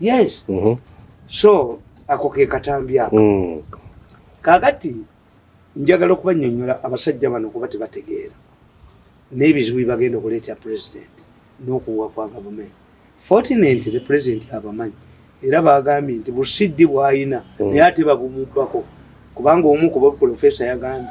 yes mm -hmm. so ako ke katambi ako mm. kakati njagala okubanyonyola abasajja bano kuba tebategeera n'ebizibu bibagenda okuleeta president n'okuwa kwa gavumenti fortunate the president abamanyi era bagambye nti busiddi bwayina mm. naye ate babumubbako kubanga omu kuba profesa yagambye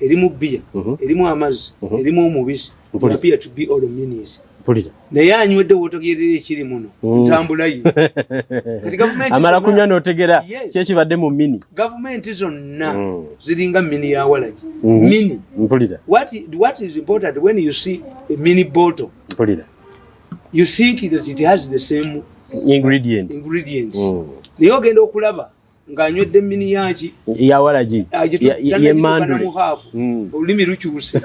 erimu bbiya mhm. erimu amazzi mhm. erimu omubisi naye anywedde wotegerera ekiri muno mm. ntambula ye amala kunywa notegera kyekibadde mu mini gavumenti zonna mm. ziringa mini ya walagi mm-hmm. mini mpulira what is important when you see a mini bottle mpulira you think that it has the same ingredients mm. naye ogenda okulaba ng'anywedde mini yaki yawalagi yemandu hmm. olulimi lukyuse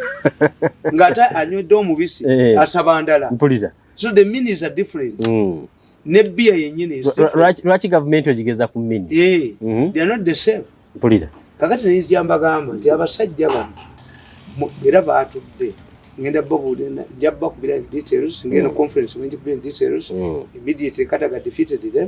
ng'ate anywedde omubisi eh. asaba ndala mpulira so the minis are different mm. ne bia yenyini lwaki gavumenti ogigeza ku mini eh, mhm. they are not the same mpulira kakati neyijambagamba nti abasajja bano era batudde ngenda babuulira nja bakubira details ngenda mm. conference ngenda kubira details mm. immediately kadaga defeated them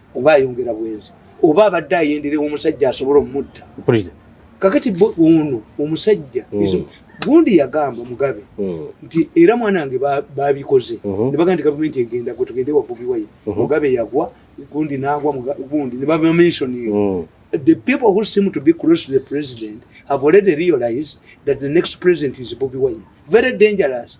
oba ayongera bwenzi oba abadde ayenderewa omusajja asobola omutta kakati ono omusajja hmm. gundi yagamba mugabe hmm. nti era mwana wange babikoze hmm. nebaga nti gavumenti egenda gwe tugende wabubi wayi mugabe yagwa gundi nagwa gundi nebabamentioning the people who seem to be close to the president have already realized that the next president is bobi wayi very dangerous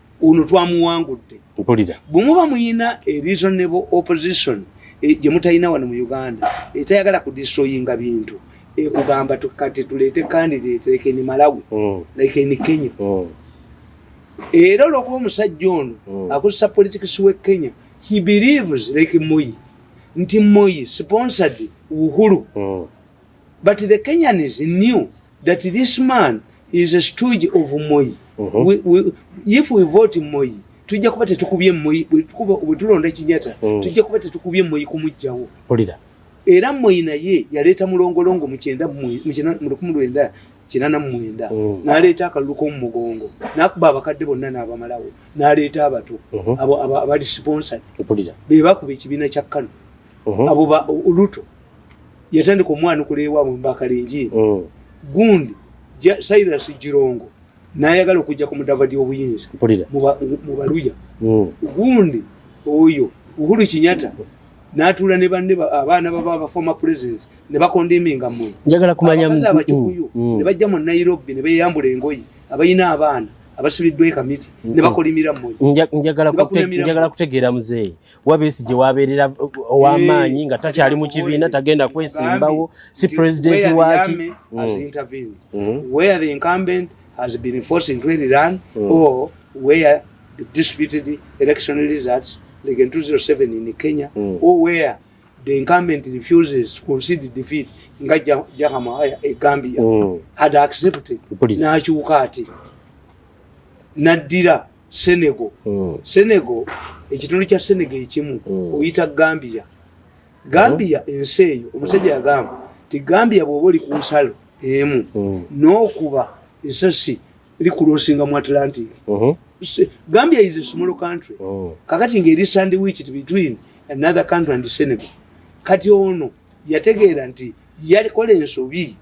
ono twamuwangudde mpulira bwemuba muyina e reasonable opposition e, gye mutalina wano mu uganda etayagala ku destroyinga bintu ekugamba kati tuleete candidate like eni malawi mm. like eni kenya mm. era olwokuba omusajja ono mm. akozesa politics we kenya he believes like moyi nti moyi sponsored uhuru but the kenyans knew that this man is a stooge of Moyi. Uh -huh. we, we, if we vote Moyi, tujja kuba tetukubye Moyi, bwe tulonda Kinyata, uh mm. -huh. tujja kuba tetukubye Moyi kumujjawo. Polida. Era Moyi naye yaleeta mulongolongo mu kyenda mu lukumi lwenda kinana mu mwenda uh mm. -huh. n'aleeta akalulu k'omu mugongo n'akuba abakadde bonna n'abamalawo n'aleeta abato uh mm-hmm. -huh. abo abali sponsored be bakuba ekibiina kya Kano uh mm-hmm. -huh. abo ba Uluto yatandika omwanukula ewaabwe mbakalingi mm. gundi cyrus girongo nayagala okujja ku mudava dyobuyinza mu baluya mm. gundi oyo uhuru kinyata natuula ne banne abaana baba bafoma president ne bakondiminga mwe njagala kumanya mzee abakikuyu mm, mm. ne bajja mu Nairobi ne beyambula engoyi abayina abaana abasuliddwa ekamiti ne mm, bakolimira mwe njagala kutegeera mzee wabesi gye wabeerera ow'amaanyi nga takyali mu kibiina tagenda kwesimbawo si pulezidenti waaki like in 2007 in Kenya mm. or where the incumbent refuses to concede defeat nga Jahama eh, eh, Gambia mm. had accepted nakyuka ati naddira Senegal. Mm. Senegal ekitundu kya Senegal ekimu mm. oyita Gambia. Gambia mm. ensi eyo omusajja yagamba ti Gambia bwoba oli ku nsalo emu mm. n'okuba esasi likulosinga mu Atlantic. Mm -hmm. Gambia is a small country. Oh. Kakati ngeri sandwiched between another country and Senegal. Kati ono yategeera nti yakola ensobi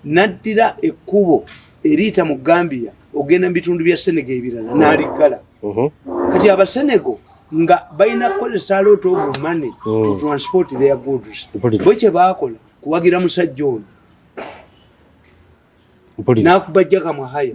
naddira ekkubo eriyita mu gambia ogenda mu bitundu bya senego ebirala naliggala mhm. kati abasenego nga balina kukozesa alot of money to mm. transport their goods bwe kyebaakola kuwagira musajja ono nakubajjaka mwahaya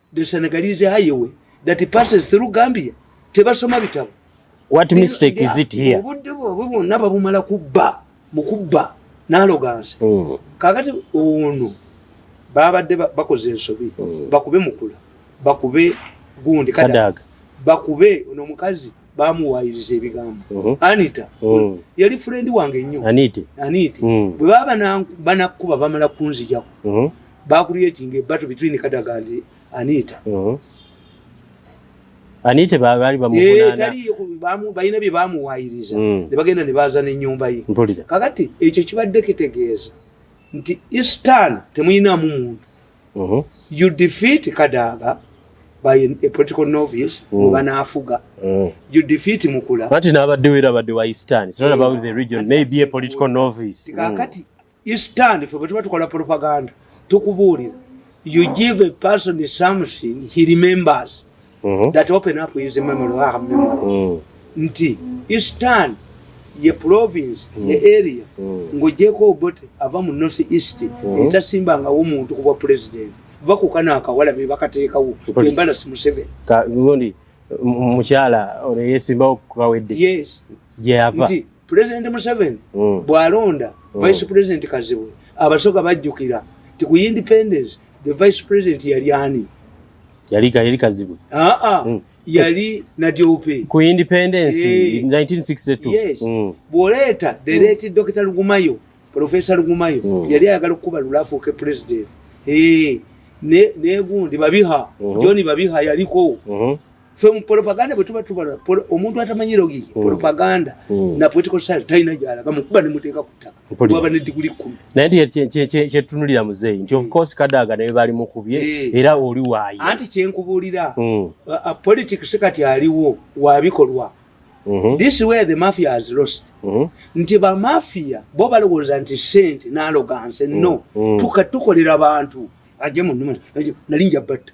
the senegalese highway that passes through gambia tebasoma bitabo what mistake is it here obudde bwabwe bwonna babumala kubba mu kubba nalogansi mm. kakati ono babadde bakoze ensobi mm. bakube mukula bakube gundi kadaga bakube ono omukazi bamuwayiriza ebigambo mm-hmm. anita mm. yali furendi wange nnyo aniti bwe baba banakuba bamala kunzijako mm-hmm. bakuliyetinga ebato between kadaga and anita mm-hmm. anite baali bamuvunaanabalina eh, bye bamuwayiriza mm. ne bagenda ne baaza n'ennyumba ye kakati ekyo kibadde kitegeeza nti istan temuyinaamu muntu mm-hmm. you defeat kadaaga by a political novice mm. oba naafuga mm. you defeat mukula anti n'abaddewo era abadde wa istan sinona about the region maybe a political novice kakati You stand for bwetuba tukola propaganda tukubuulira you give a person something he remembers mm -hmm. that open up his memory or her memory mm. nti eastern ye province mm. ye area mm. ngojeko obote ava mu north east mm -hmm. etasimba nga omuntu kuba president vakukana akawala be bakatekawo embala si museveni ngondi mukyala oyo yesimbawo kukawedde yes gyeyava yeah, pulezidenti museveni mm. bwalonda mm. vice pulezidenti kazibwe abasoga bajjukira ti ku independence the vice president yali ani yali yali kazibwe aa ah, ah. mm. yali nadiope ku independence hey. 1962 yes. mm. bwoleeta the mm. late mm. dr lugumayo professor lugumayo mm. yali ayagala okukuba lulafuuke president hey. negundi ne babiha mm -hmm. joni babiha yaliko mm -hmm. fe mu propaganda bwe tuba tubala omuntu atamanyi logi mm. propaganda mm. na political science talina gyalaga mu kuba ne muteeka ku ttaka waba ne diguli kkumi naye nti kyetunulira muzeeyi nti of mm. course kadaaga naye bali mukubye eh. era oli waayi anti kyenkubuulira politics kati aliwo wa bikolwa mm-hmm. this way the mafia has lost mm-hmm. nti bamafia bo balowooza nti sente naloganse no tukolera bantu ajemu nali njabatta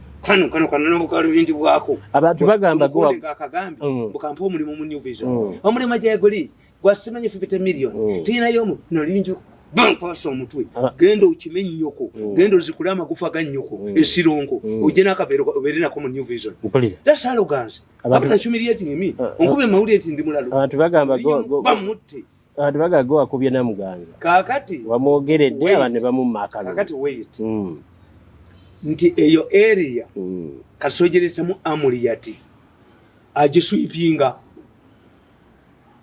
kano kano kano nobukala bintu bwako abantu bagamba go akagamba mm. bukampa omulimu mu new vision mm. omulimu ajaye goli gwasimenye 50 million mm. tina yomu no linju bampasa omutwe ah. genda okime nyoko genda ozikule amagufa ga nyoko esirongo oje nakabero obere nako mu new vision that's arrogance abantu na humiliating me ah, ah. onkube mawulire nti ndi mulalo abantu bagamba go bamutte abantu bagaga wakubye namuganza kakati wamwogeredde abantu ne bamumma akalulu kakati wait mm. nti eyo area mm. kasojeretamu amuliyati agiswipinga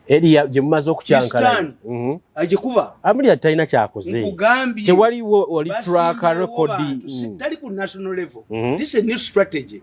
eriya gye mumaze okukyankala mhm. agikuba amulira talina kyakoze tewaliwo oli track record mm. tali ku national level mhm. this is a new strategy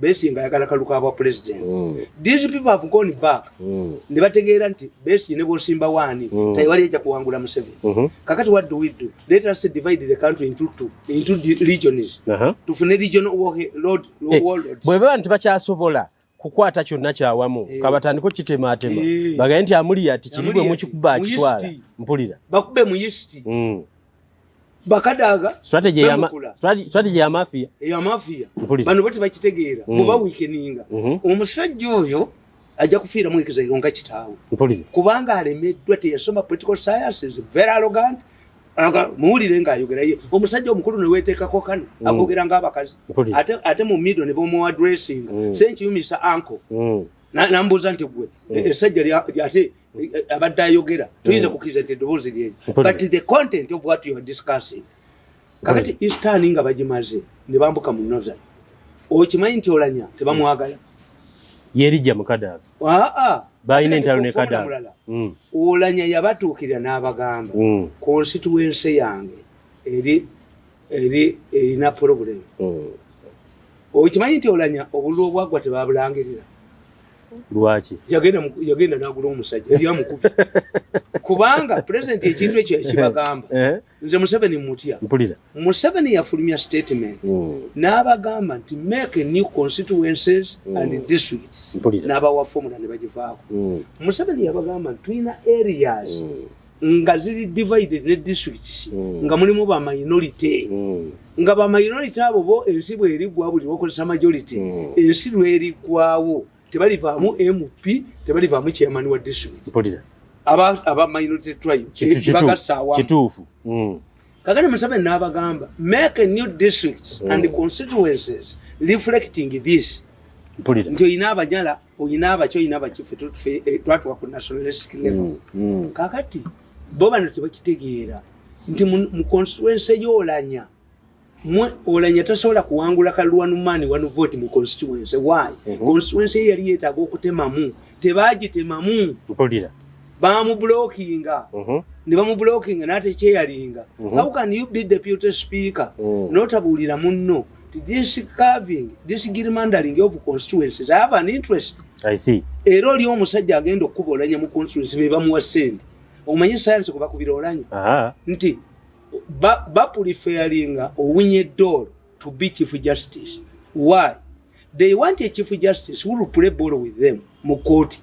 besinga ayagala kaluka bwa president mm. these people have gone back mm. ne bategeera nti besi ne bosimba wani mm. taiwali eja kuwangula museveni mm -hmm. kakati what do we do let us divide the country into two into the regions uh -huh. tufune region wo lord wo hey. Eh, lord bwe baba nti bakyasobola kukwata kyonna kyawamu hey. Eh. kabatandiko kitematema hey. Eh. bagaye nti amuli ati kiri bwe mukikuba akitwala mpulira bakube mu yisiti mm. bakadaga strategy ya ma, strategy, strategy ya mafia ya mafia bano bati bakitegeera mm. muba weakeninga mm -hmm. omusajja oyo ajja kufiira mu ekiza ironga kitawe kubanga alemeddwa teyasoma political science is very arrogant aga muwulire nga ayogera ye omusajja omukulu ne weteekako kano mm. agogera nga abakazi ate, ate mu middle ne bomu addressinga mm. senki you Mr. Uncle mm. nambuuza nti gwe mm. esajja ate abadde ayogera tuyinza mm. kukiriza nti eddoboozi lyeri but the content of what you are discussing kakati mm. istani nga bagimaze ne bambuka mu northern okimanyi nti olanya tebamwagala yerijja mukadaga aa balina entalo ne kadaga mm. olanya yabatuukirira n'abagamba constituency yange eri eri erina pulobulemu hmm. okimanyi nti olanya obululu obwagwa tebabulangirira lwaki yagenda nagula omusajja eryamukubi kubanga pulezidenti ekintu ekyo yakibagamba eh? nze museveni mutya museveni yafulumya statement hmm. n'abagamba nti make a new constituences hmm. and districts n'abawa fomula ne bagivaako hmm. museveni yabagamba nti tulina areas nga ziri divided ne districts mm. nga mulimu ba minority mm. nga ba minority abo bo ensi bwerigwa buli wakozesa majority mm. ensi lwerigwawo tebalivaamu mp tebalivaamu chairman wa district aba, aba minority tribe bagasawakituufu mm. kakati musabe nabagamba make a new districts mm. and constituencies reflecting this nti olina abanyala olina abaki olina abaki eh, twatuka ku national rescue level mm, mm. kakati bo bano tebakitegeera nti mu constituency yolanya mwe olanya tasobola kuwangula kalwanumani wanu vote mu constituency why mm -hmm. constituency ye yali yetaaga okutemamu tebagitemamu mpulira bamubulokinga mm -hmm. ne bamubulokinga n'atekyeyalinga mm -hmm. how can you be deputy speaker mm. notabuulira munno this carving this gerrymandering of constituencies i have an interest i see era oli omusajja agenda okukuba olanya mu constituency be bamuwa sente omanyi sayansi kuba kubira olanya nti bapulifeyalinga ba owinye door to be chief justice why they want a chief justice who will play ball with them mu kooti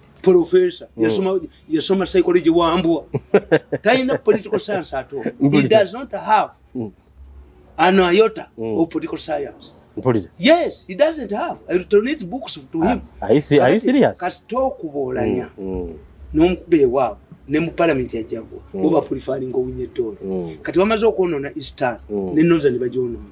Professor mm. yasoma yasoma psychology wambwa taina political science at all he does not have mm. an iota mm. of political science Mpulire. Yes, he doesn't have. I will donate books to ah, him. Ah, are you, see, are you serious? Kasita okuboolanya mm, mm. n'omukuba ewaabwe ne mu palamenti yajjagwa mm. oba pulifalinga owinye ettoolo mm. kati bamaze okwonoona eastern mm. ne northern bagyonoona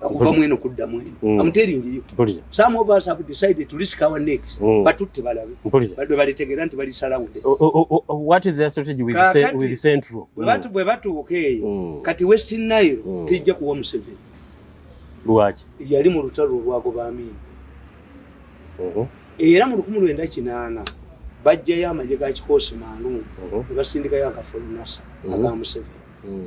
okuva mweno kudda mweno mm. I'm telling you Mpulira. some of us have decided to risk our necks mm. batutte balabe badwe balitegera nti bali salawude what is their strategy with, Kakati, se, with central bwe batu mm. bwe batuuka eyo mm. kati west nile mm. tijja kuwa museveni lwaki yali mu lutalo olwagoba amini uh mm-hmm. -huh. era mu lukumi lwenda kinaana bajjayo amagye ga kikoosi mangu uh mm-hmm. -huh. ne basindikayo akafulunasa uh mm-hmm. -huh. aga museveni mm.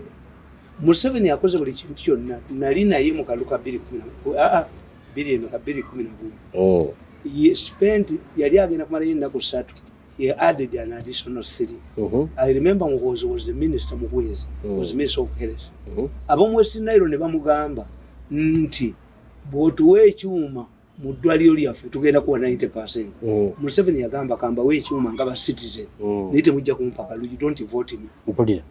Museveni akoze buli kintu kyonna nali naye mu kaluka bbiri kumi na ah, ah, bbiri emeka bbiri kumi na gumu oh. ye spent yali agenda kumalayo ennaku ssatu ye added an additional three uh-huh. i remember muhoozi was the minister muhwezi uh-huh. was minister of health uh-huh. ab'omu west nairo ne bamugamba nti bw'otuwa ekyuma mu ddwaliro lyaffe tugenda kuwa 90 percent mm. museveni yagamba kambawo ekyuma nga ba citizen mm. naye temujja kumpaka lugi don't vote me mpulira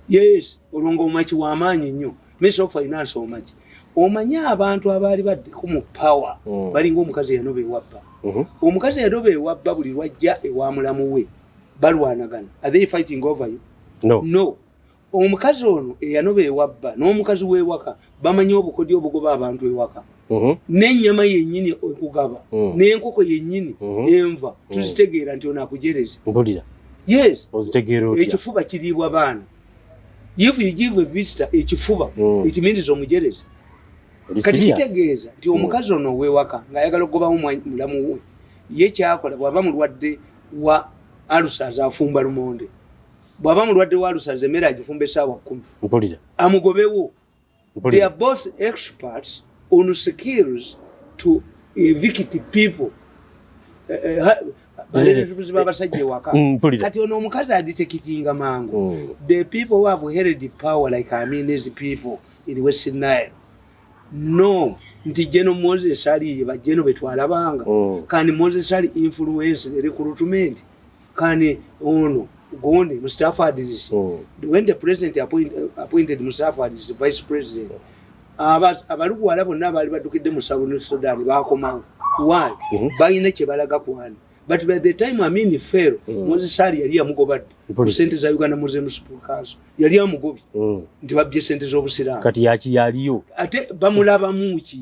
yes olwonga omaki wamaanyi nnyo minister of finance omaki omanyi abantu abaali baddeko mu power mm. balinga omukazi eyanoba ewabba mm-hmm. omukazi eyanoba ewabba buli lwajja ewa mulamu we balwanagana are they fighting over you no, no. omukazi ono eyanoba ewabba n'omukazi w'ewaka bamanyi obukodyo obugoba abantu ewaka uh-huh. n'ennyama yennyini okugaba uh-huh. n'enkoko yennyini uh-huh. enva tuzitegeera nti ono akujereze yes ekifuba kiriibwa baana if you give a visitor ekifuba ekimiriza omujereze kati kitegeeza nti omukazi ono ow'ewaka ng'ayagala okugobamu mulamu we ye kyakola bw'aba mulwadde wa alusa azaafumba lumonde bwaba mulwadde wa lusaza emmere agifumba esaawa kumi mpulira amugobewo they are both experts on skills to evict people eh, eh, balelatubuzi babasajja ewaka mm, kati ono omukazi aditekitinga mangu mm. the people who have held power like i mean these people in west nile no nti geno moses aliye bajeno betwalabanga mm. kandi moses ali influence the recruitment kani ono gundi mustafa adis oh. when the president appoint, uh, appointed mustafa adis vice president abalugwala bonna baali baddukidde mu south sudan bakomawo why mhm. balina kyebalaga kwani but by the time amin fero mm. mozesali yali yamugobadde ku sente za uganda museum school council yali amugobi mm. nti babbye sente z'obusiraamu kati yaki yaliyo ate bamulabamuki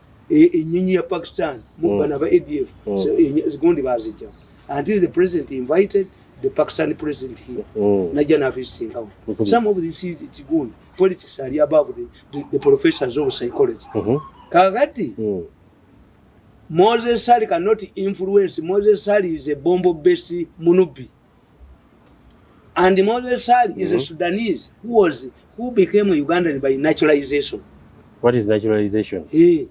e, enyonyi ya pakistan mubana mm. ba adf mm. zigundi bazija until the president invited the pakistani president here mm. najja nafisitinkawo mm-hmm. some of this kigundi politics ali above the, the, the professors of psychology mm-hmm. kakati mm. moses sali cannot influence moses sali is a bombo based munubi And Moses Sali mm -hmm. is a mm-hmm. Sudanese who was who became a Ugandan by naturalization. What is naturalization? Hey.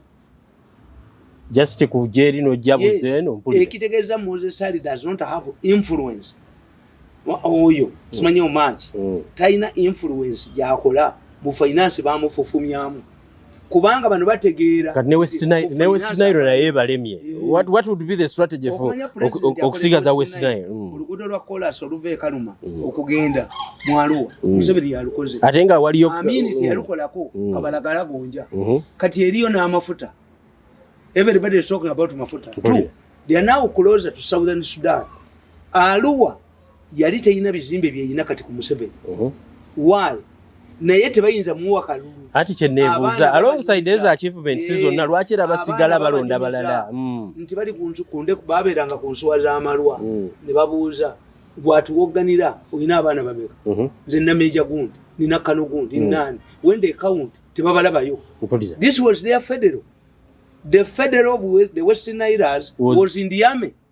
Just to kujeri no jabu yes. zeno mpuli. Ekitegeza Moses Sali does not have influence. Oyo, mm. simanyo much. Mm. Taina influence ya kola. Mu finance ba mu fufumyamu. kubanga bano bategeera kati ne west nile ne west nile na yeba lemye eh. what what would be the strategy for okusigaza west nile mm. olugudo lwa kolas oluve kaluma mm. okugenda mwaluwa mm. musebeni yalukoze atenga waliyo amini ti yalukolako kabalagala gonja mm-hmm. kati eriyo na amafuta everybody is talking about mafuta true they are now closer to southern sudan aluwa yali teyina bizimbe byeyina kati ku museveni uh-huh. why naye tebayinza muwa kalulu ati kyenebuuza alongside eza achievement si zonna eh, lwaki era basigala balonda balala hmm. nti bali kunsukunde babeeranga ku nsuwa z'amalwa hmm. ne babuuza gwatuwogganira olina abaana bameka uh-huh. nze nameja gundi nina kano gundi hmm. nani when they count tebabalabayo this was their federal the federal of the western iras was in the army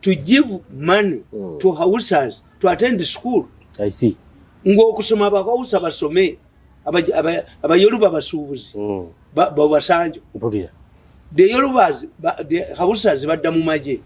to give money mm. to houses to attend school i see ngokusoma abahausa basome abayoruba basuubuzi mm. babasanjo the yorubas the houses badda mu magye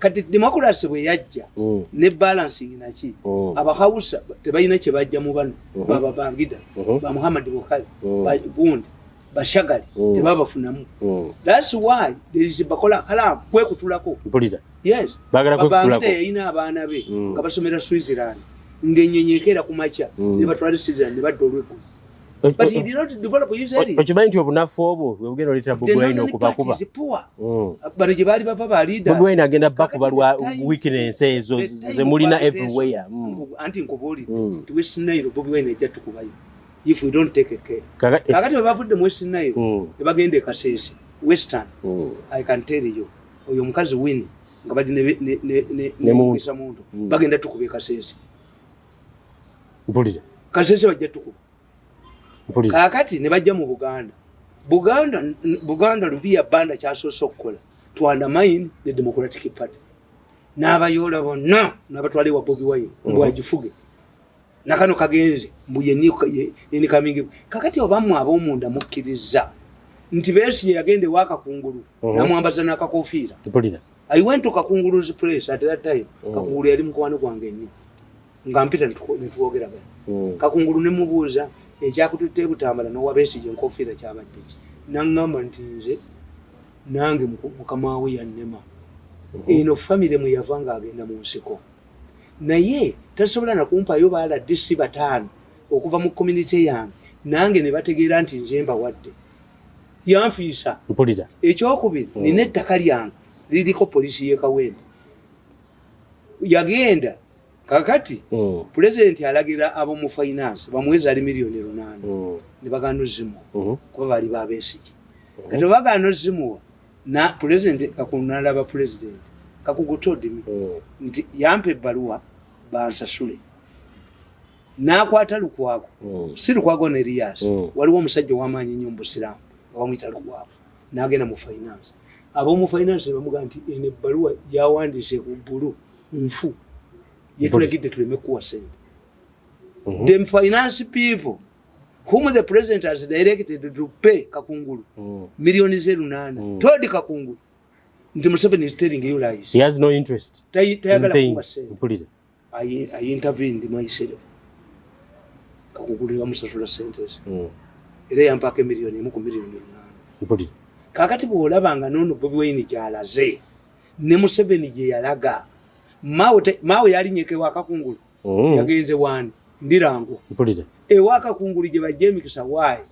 kati democracy bwe yajja mm. ne balancing naki mm. abahausa tebalina kye bajja mu bano mm-hmm. bababangida mm-hmm. ba muhammad bukhari mm. gundi bashagali mm. tebabafunamu mm. that's why there is bakola kalam kwekutulako mpulira yes bagala kwekutulako yayina abaana be mm. nga basomera switzerland ngenyenyekeera ku makya mm. ne batwala switzerland ne badda olweggulo okimanyi nti obunafu obwo bwebugenda oleetera bobwine okubakuba mm. bano gye baali bava balidabobwine agenda bakuba lwa weakness ezo zemulina everywhere anti nkubuulire tiwesinairo bobwine ejja tukubayo if we don't take care kakati eh, bavudde mu western nayo mm. ebagenda ekasese western mm. i can tell you oyo omukazi wini nga bali nemukisa muntu mm. bagenda tukuba ekasese mpulira kasese bajja tukuba kakati ne bajja mu buganda buganda buganda lubiya banda kyasoose okukola to undermine the democratic party n'abayoola bonna n'abatwala ewa bobi wine mbwagifuge mm -hmm. nakano kagenze mbuyenikamingi kakati obamwe abomunda mukkiriza nti besigye yagenda ewakakungulu mhm. namwambaza nakakofiira i went to kakungulu's place at that time mhm. kakungulu yali mukwano gwange nnyo nga mpita netwogeragana mhm. kakungulu nemubuuza ekyakututte ebutambala nowa besigye enkofiira kyabaddeki nangamba nti nze nange mukama we yannema eno famire mweyava nga agenda mu nsiko naye tasobola nakumpayo baala dc bataano okuva mu community yange nange ne bategeera nti nze mbawadde yanfiisa mpulira ekyokubiri mm. nina ettaka lyange liriko polisi yekawembe yagenda kakati mm. pulezidenti alagira abomu finance bamuwezi ali miliyoni lunaana mm. ne bagana ozimuwa mm-hmm. kuba bali babesiki mm-hmm. kati obagana ozimuwa na pulezidenti kakulu nalaba pulezidenti kakugu todimi oh. nti yampa ebbaluwa bansasule nakwata lukwago oh. si lukwago ne elias oh. waliwo omusajja owamaanyi nnyo mubusiraamu nga bamuyita lukwago nagenda mu finance abomu finance bamuga nti eno ebbaluwa yawandiise ku bulu nfu yetulagidde tuleme kuwa sente mm-hmm. the finance people whom the president has directed to pay Kakungulu mm. million zero nana mm. told Kakungulu nti Museveni is telling you lies. He has no interest. Tayagala kuwa sente. Mpulire. I, I intervened myself. Kakungulu ya musasula sente ezi. Mm. Era yampaka million emu ku million nana. Mpulire. Kakati bwolaba nga nono Bobi Wine gyalaze ne Museveni gye yalaga mawe mawe yalinyekewa Kakungulu. mm. yagenze wani ndirango mpulire ewa kakungulu gye bajja emikisa waayi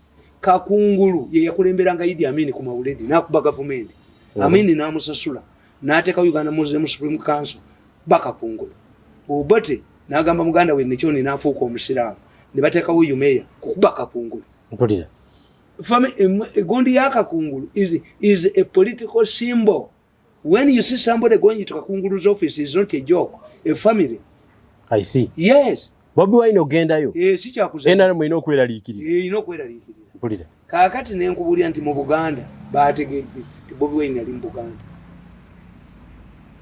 kakungulu ye yakulemberanga idi amini ku mawuledi nakuba gavumenti mm. amini namusasula nateeka uganda muslim supreme council bakakungulu obote nagamba muganda we nekyoni nafuuka omusiraamu ne bateekawo umeya kukuba kakungulu mpulira egondi ya kakungulu is, is a political symbol When you see somebody going to Kakungulu's office, it's not a joke. A family. I see. Yes. Bobi Wine ogendayo. Eh, si kya kuza. NRM ino kwera likiri. Eh, ino kwera likiri. Bulira. Kakati ne nkubulia nti mu Buganda baategedde nti Bobi Wine ali mu Buganda.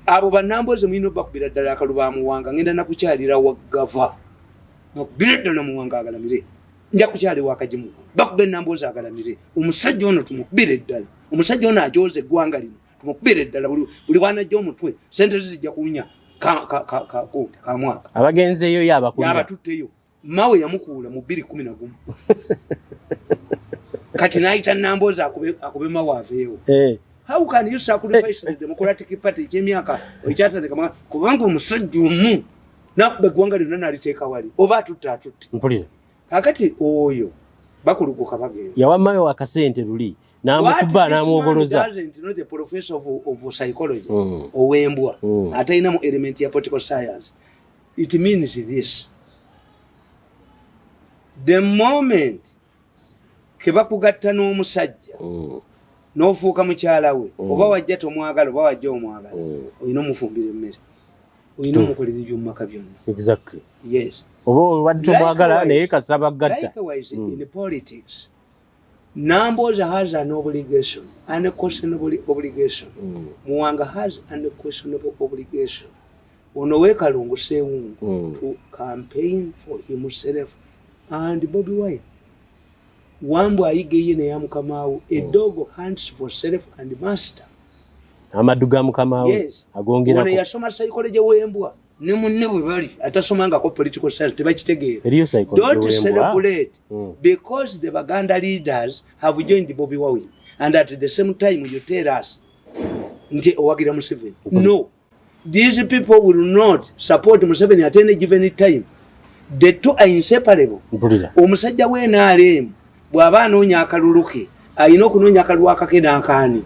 Abo banamboze mwino bakubira ddala akaluba muwanga ngenda nakukyalira wagava. Mubirdo na muwanga agalamire. nja kukyali wakagimu bakuba enamboozi agalamire omusajja ono tumukubire eddala omusajja ono ajooza eggwanga lino tumukubire eddala buli bwanajja omutwe sente ze zijja kuwunya kamwaka abagenzeeyo yabatutteyo mawe yamukuula mu bbiri kumi na gumu kati nayita namboozi akube mawe aveewo eh. how can you sacrifice the democratic party ekyemyaka ekyatandika kubanga omusajja omu nakuba eggwanga lyonna naliteeka wali oba atutte atutte mpulira kakati oyo bakulukuka bagenda yawa mawe wakasente luli namukuba namwogoloza mm. owembwa mm. atalinamu element ya political science it means this the moment kebakugatta n'omusajja oh. n'ofuuka mukyala we oh. oba wajja tomwagala oba wajja omwagala oh. olina omufumbira emmere olina omukolera ebyomumaka byonna oba obadde tomwagala naye kasaba gatta Namboza has an obligation, an questionable obligation. Mm. Muwanga has an questionable obligation. Ono we Kalungu Sewungu mm. to campaign for himself and Bobby Wine. Wambu ayige ye ne yamukamaawo. A mm. dog hunts for self and master. Amadu ga mukamaawo. Yes. Agongera. Ono yasoma psychology wembwa. Ne munne bwe bali atasoma nga ko political science tebakitegeera. Eriyo psychology wembwa. Don't celebrate mm. because the Baganda leaders have joined Bobby Wine and at the same time you tell us nti owagira Museveni. No. Mm. These people will not support Museveni at any given time. The two are inseparable. Omusajja we NRM bwaba anoonya akalulu ke alina okunoonya akalulu akake n'akaani.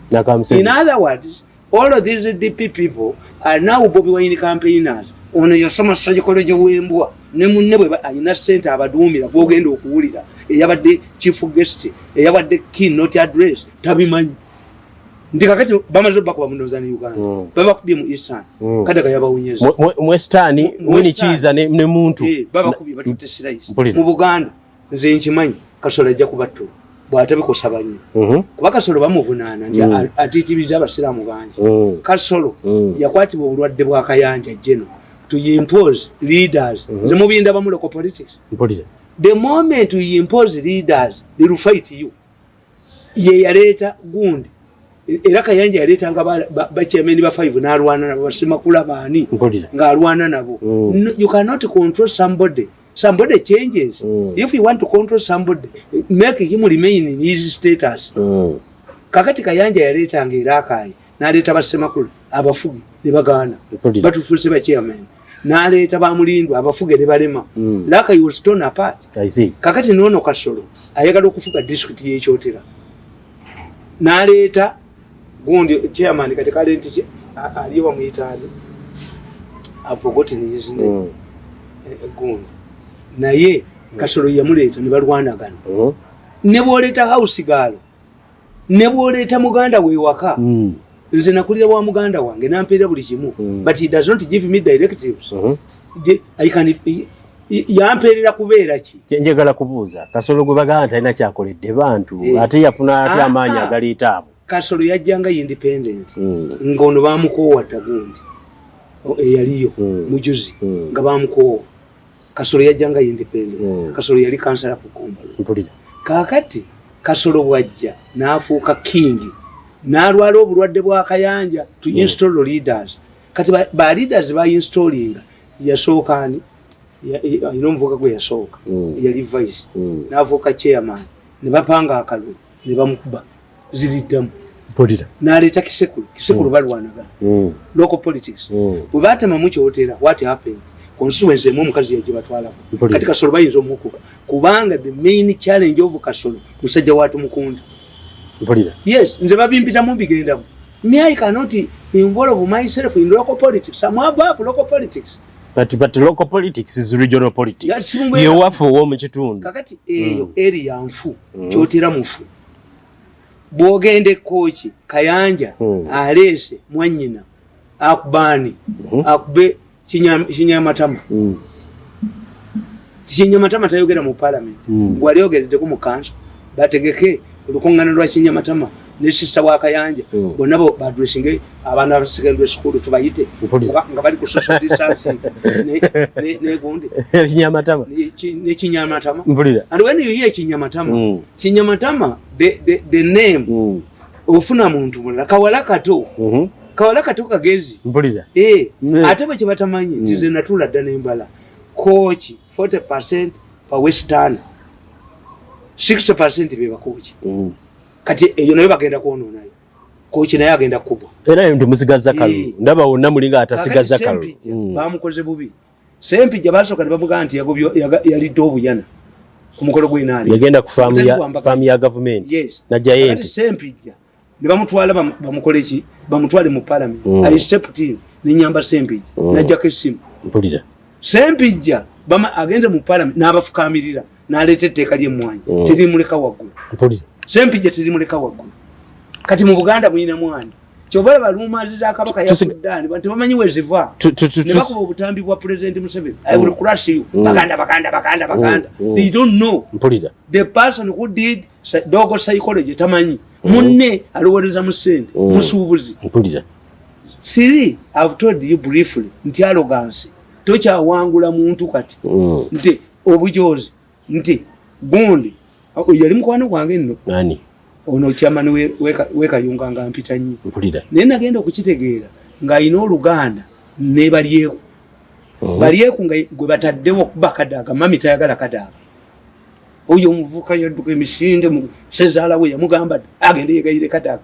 In other words, all of these DP people are now Bobi Wine campaigners. Ono yasoma psychology w'embwa ne munne bwe alina ssente abaduumira gw'ogenda okuwulira eyabadde chief guest eyabadde key not address tabimanyi. ndi kakati bamaze bakuba munoza ne Uganda mm. baba kubye mu Isan mm. kada kaya bawunyeza mwe stani mwini chiza ne, ne muntu eh, baba kubye batute sirais mu Buganda nze nkimanyi kasola ajja kubatto bwatabe ko sabanyi mm -hmm. kuba kasolo bamuvunana ndi mm. atitibiza abasiramu banje mm. kasolo mm. yakwati bulwadde bwa kayanja jeno to impose leaders mm -hmm. zemubinda bamulo ko politics Mpolize. the moment you impose leaders they will fight you ye yaleeta gundi era kayanja yaleetanga bachairman ba five n'alwana nabo basimakula baani ng'alwana nabo mm. you cannot control somebody somebody changes mm. if you want to control somebody make him remain in his status mm. kakati kayanja yaleetanga era akaayi naleeta bassemakula abafuge ne bagaana batufuuse bachairman naleeta bamulindwa abafuge ne balema mm. laka you stone apart kakati noono kasolo ayagala okufuga district yekyotera naleeta gundi chairman kati kale nti aliyo bamuyitaani afogotin yisne mm. eh, eh, gundi naye mm. kasolo yamuleeta ne balwanagana mm-hmm. ne bwoleeta house gaalo ne bwoleeta muganda we ewaka mm. nze nakulira wa muganda wange nampeera buli kimu mm. but he does not give me directives mm -hmm. I can, yampeerera kubeera ki kyenjagala kubuuza kasolo gwe bagamba nti alina kyakoledde bantu eh. ate yafuna ati ah, amaanyi ah. agaleeta abo kasolo yajjanga independent hmm. ng'ono bamukoowa dda gundi oh, eyaliyo hmm. mujuzi hmm. nga bamukoowa kasolo yajja nga independent mm. kasolo yali kansala ku kombalo mpulira kakati kasolo bwajja n'afuuka kingi n'alwala obulwadde bwa kayanja to mm. install mm. leaders kati ba, ba leaders ba installinga yasooka ani alina omuvuka gwe yasooka mm. yali vice mm. n'afuuka chairman ne bapanga akalulu ne bamukuba ziriddamu mpulira naleeta kisekulu kisekulu mm. balwanaga mm. local politics mm. bwe batemamu kyotera what happened constituency emu omukazi yagibatwalako kati kasolo bayinza omukuba kubanga the main challenge of kasolo musajja watu mukunda mpulira yes nze babimpitamu bigendamu me i cannot involve myself in local politics i'm above local politics but but local politics is regional politics yewaffe owomukitundu kakati eyo mm. eri yanfu mm. kyotera mufu mm. bwogenda ekooki kayanja hmm. aleese mwanyina akubaani hmm. akube kinyamatama hmm. kinyamatama tayogera mu palamenti wali ogereddeko mu kansa bategeke olukungana lwa kinyamatama ne sisita wa kayanja bonna badresinge abaana ba secondary school tubayite nga bali ku social distancing negundi kinyamatama ne kinyamatama and when you hear kinyamatama kinyamatama the, the, the name mm. ofuna muntu mulala kawala kato mm -hmm. kawala kato kagezi mpulira eh mm. ate bwe kibatamanyi mm. tize natula dda nembala kochi 40% pa western 60% beba kochi mm. kati eyo nayo bagenda kuonona yo kochi nayo agenda kubwa era ndio musigaza kalu e. ndaba wonna mulinga atasigaza kalu mm. bamukoze bubi Sempija basoka nebamugamba nti yagobyo yalidde obuyana ku mukolo gw'enaali yagenda ku faamu ya faamu ya gavumenti yes. na jayenti Sempija ne bamutwala bamukole ki bamutwale mu parliament mm. I stepped in ne nyamba Sempija mm. najjako essimu mpulira Sempija bama agenda mu parliament n'abafukamirira n'aleeta etteeka ly'emmwanyi mm. terimuleka waggulu mpulira Sempija terimuleka waggulu kati mu Buganda muyina mwani kyova laba rumazi za kabaka yasudani bantu bamanyi weziva nebakuba obutambi bwa president museveni i will mm. crush you mm. baganda baganda baganda mm. baganda they don't know mpulira the person who did dogo psychology tamanyi munne alowereza mu sente musuubuzi mpulira siri i've told you briefly nti alogansi tokyawangula muntu kati nti obujozi nti gundi yali mukwano gwange nno ani ono kyamani wekayunga nga mpita nnyo mpulira naye nagenda okukitegeera ng'alina oluganda ne balyeku oh. balyeku nga gwe bataddewo okuba kadaaga mami tayagala kadaaga oyo omuvuka yadduka emisinde sezaala we yamugamba agende yegayire kadaaga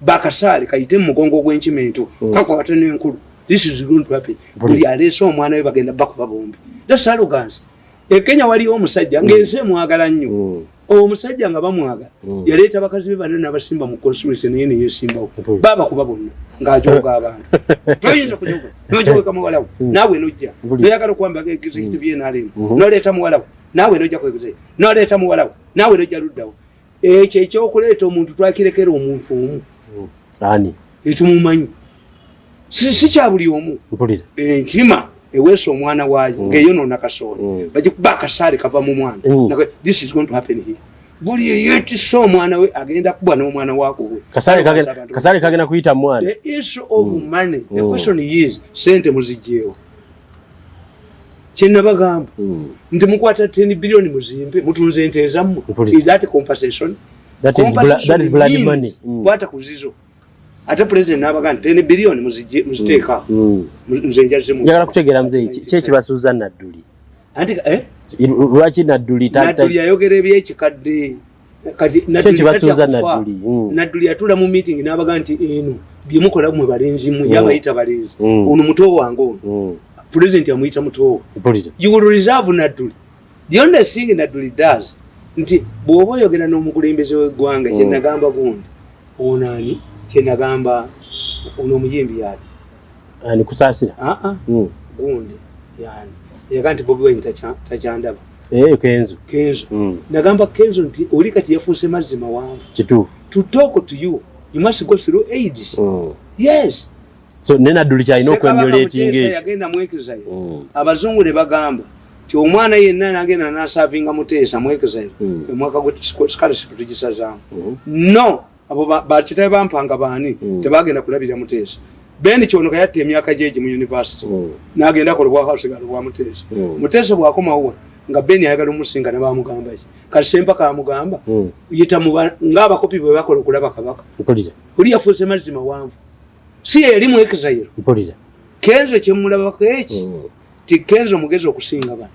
bakasaale kayite mu mugongo ogw'enkima ento mm. kakwate n'enkulu this is going to happen buli aleese omwana we bagenda bakuba bombi that's arrogance ekenya waliyo omusajja mm. ng'ensi emwagala nnyo mm. omusajja nga bamwagala mm. yaleeta bakazi be bana nabasimba mu constituency naye neyesimbawo baba kuba bonna ng'ajoga abantu toyinza kujoga nojogeka muwalawo naawe nojja noyagala okuwambaga executive yenalemu noleeta muwalawo naawe nojja kweguzee noleeta muwalawo naawe nojja luddawo ekyo ekyokuleeta omuntu twakirekera omuntu omu hmm. ani etumumanyi si kya buli omu enkima eh, eweesa omwana waayo hmm. ngaeyonoona kasooli hmm. bagikuba akasaale kava mu mwana buli eyetisa omwana we agenda kubwa n'omwana wakoweasaale kagenda kuyita mwana the issue of money the question is sente muzijjeewo kyenabagamba hmm. nti mukwata 10 billion muzimbe mutunze ente ezammwe that compensation that is blood that is blood money hmm. kwata kuzizo ate president nabaga nti 10 billion muzije muziteka hmm. nze njaze mu yagala kutegera mzee kye kiba Susan Naduli anti eh lwaki Naduli tata Naduli ayogera ebyekikadde kati kyekibasuuza nadduli mm. nadduli yatula mu meeting n'abaga nti eno byemukola mwe balenzi mwe mm. yabayita balenzi mm. ono muto wange ono president amuyita muto you will reserve nadduli the only thing nadduli does nti bw'oba oyogera n'omukulembeze w'eggwanga kyenagamba gundi onaani kyenagamba ono omuyimbi yaali ani kusasira a ah, a ah. mm. gundi yani yaga nti bobi wine tacha tachandaba eh kenzo kenzo mm. nagamba kenzo nti oli kati yafuuse mazzi mawanvu kituufu to talk to you you must go through aids mm. yes so nena duli cha ino kwa muleti nge yagenda mwekeza yo mm. abazungu ne bagamba ti omwana yenna nagenda na serving amutesa mwekeza yo mm. mwaka gwe scholarship tujisaza mm. no abo bakitabe bampanga baani mm. tebagenda kulabira muteesa ben kyonoka yatta emyaka gyegi mu univesity mm. nagenda kola obwakasigalo bwa muteesa mm. muteesa bwakomawa nga ben ayagala omusinga nebamugamba ki kati sempaka amugamba mm. yita ngaabakopi bwe bakola okulaba kabaka oli yafuuse mazzi mawanvu si yeyali mu exile kenzo kyemulabako eki mm. ti kenzo mugezi okusinga bano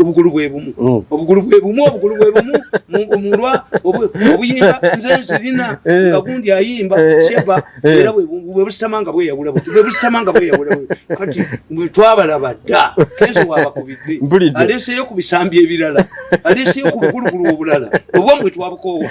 obugulu bwe bumu mm. obugulu bwe bumu obugulu bwe bumu omulwa obuyimba nze nzirina eh. nga gundi ayimba eh. sheba eh. era bwe busitama nga bweyawula buti bwe busitama nga bweyawula buti kati bwe twabalaba dda kenzo wabakubidde aleeseyo ku bisambi ebirala aleeseyo ku bugulugulu obulala obwa mwe twabukoowa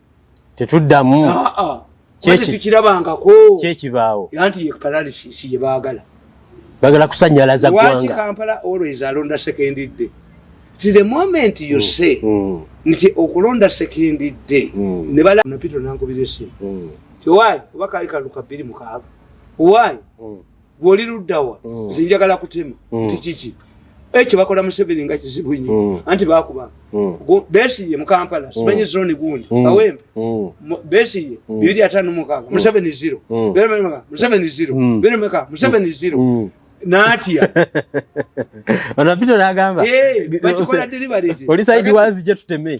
tetuddamu ah, ah. kyekirabangako kyekibaawo anti ye paralysis ye baagala bagala kusanyalaza gwanga kampala always alonda sekendi dde ti the moment you mm. say mm. nti okulonda sekendi dde mm. ne bala napito nankubira esimu mm. ti why oba kaali kaluka bbiri mukaaga why mm. gwe oli luddawa mm. nze njagala kutema mm. nti kiki ekyo eh, bakola museveni nga kizibu nyo mm. anti bakuba mm. besiye mukampala mm. simanyi zoni gundi mm. awembe mm. besiye mm. bibiri atano mukaaga mm. museveni zero mm. beremeka museveni zero mm. beremeka museveni mm. zero mm. natya onapita nagamba hey, eh, oli saidi wazi gye tuteme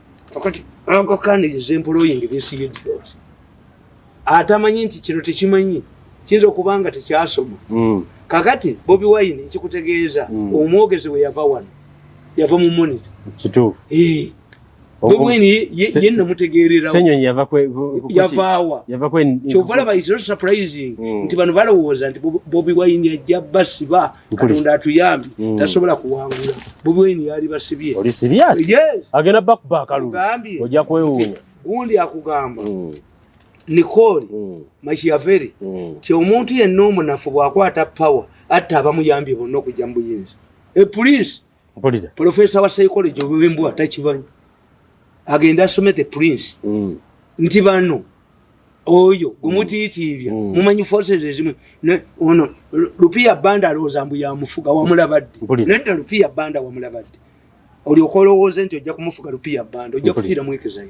kakati anko kaniriza employing besiye diboozi atamanyi nti kino tekimanyi kiyinza okuba nga tekyasoma hmm. kakati bobi wine ekikutegeeza hmm. omwogezi we yava wano yava mu monita kituufu eh. bobi wine ye namutegeererawoyavaawakyova laba is not surprising hmm. nti bano balowooza nti bobi wine ajja basiba katonda atuyambi mm. tasobola kuwangula bubweni yali basibye agenda bakubakalujja kwewuunya gundi akugamba mm. nikoli mm. makiyaveri ti omuntu yenna omunafu bwakwata power atta abamuyambye bonna okujja mu buyinza epulinsi mpulira professor wa psychology obwembwa takibanyi agenda asome the prince mm. nti bano oyo mm. omutiitiibya mm. mumanyi forces ezimu ono lupiya banda alowooza mbu yamufuga wamulabadde nedda lupiya banda wamulabadde olyoka olowooze nti ojja kumufuga lupiya banda ojja kufiira mwekezayo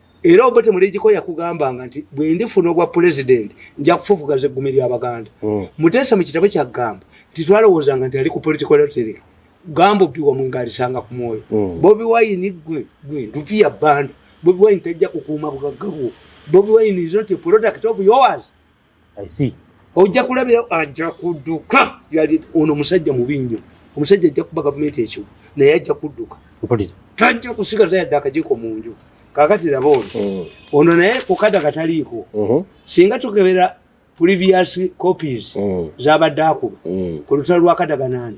era obete mulejiko yakugambanga nti bwendifuna obwa pulezidenti nja kufufugaza eggumi lyabaganda hmm. muteesa mu kitabo kyagamba nti twalowoozanga nti ali ku political lottery gamba obi wamwe ngaalisanga ku mwoyo hmm. bobi wayini gwe gwe ntufiya banda bobi wayini tajja kukuuma bugagga bwo bobi wayini is not a product of yours i see ojja kulabira ajja kuduka yali ono musajja mubi nnyo omusajja ajja kuba gavumenti ekyo naye ajja kuduka mpulira tajja kusigaza yadde akajiko mu nju kakati laba ono mm. ono naye kukada kataliiko mm-hmm. singa tukebera previous copies mm. zabadde akuba mm. ku lutalo lwakadaganani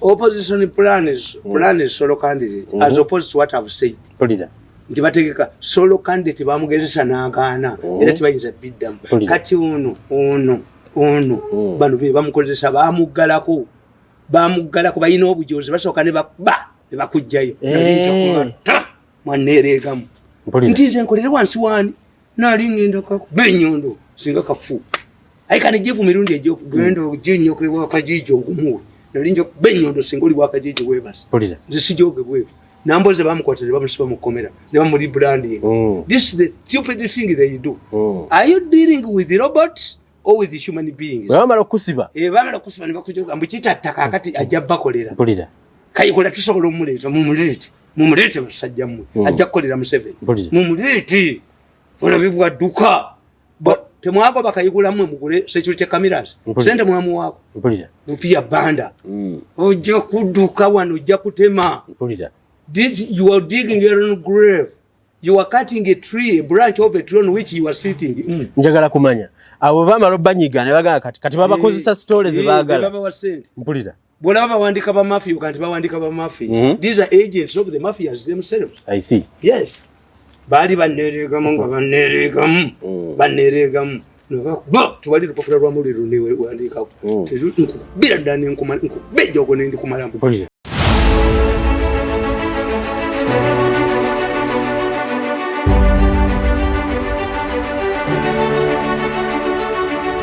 opposition plan is mm. plan is solo candidate mm -hmm. as opposed to what I've said Polida. nti bategeka solo candidate bamugezesa n'agaana mm -hmm. era tibayinza biddamu kati ono ono ono mm. bano be bamukozesa bamuggalako bamuggalako balina obujozi basooka ne bakuba ne bakujjayo eh. mwaneereegamu nti nze nkolere wansi waani nali ngenda kakuba enyondo singa kafu aye kale jivu mirundi egyokugenda mm. oginya okulewa akajiji ogumuwe nali nja okuba enyondo singa oli wakajiji webasi nze sijogebwebi namboze bamukwata ne bamusiba mu kkomera ne bamuli branding mm. this is the stupid thing that you do mm. are you dealing with the robot or with the human being bamala okusiba eh bamala okusiba ne bakujoga mbu kitatta kakati ajja bakolera kayikola tusobola omuleeta mumuleeta mumuleete musajja mmwe hmm. ajja kukolera museveni mumuleete olabe bwadduka temwagoba kayigulamwe mugule security cameras sente mwamuwaako mupiya banda hmm. ojja kudduka wano ojja kutema you are digging your own grave you are cutting a tree a branch of a tree on which you are sitting hmm. njagala kumanya abo bamala obanyiga ne bagala kati kati babakozesa eh, story ze eh, bagala mpulira bwolaba bawandika ba mafia oga nti bawandika ba mafia mm -hmm. these are agents of the mafias themselves i see yes baali banereegamu nga banereegamu mm. banereegamu noba tewali lupapula lwa muliro newandiikako mm. nkubira ddala nenkubejja ogwo nendikumalamu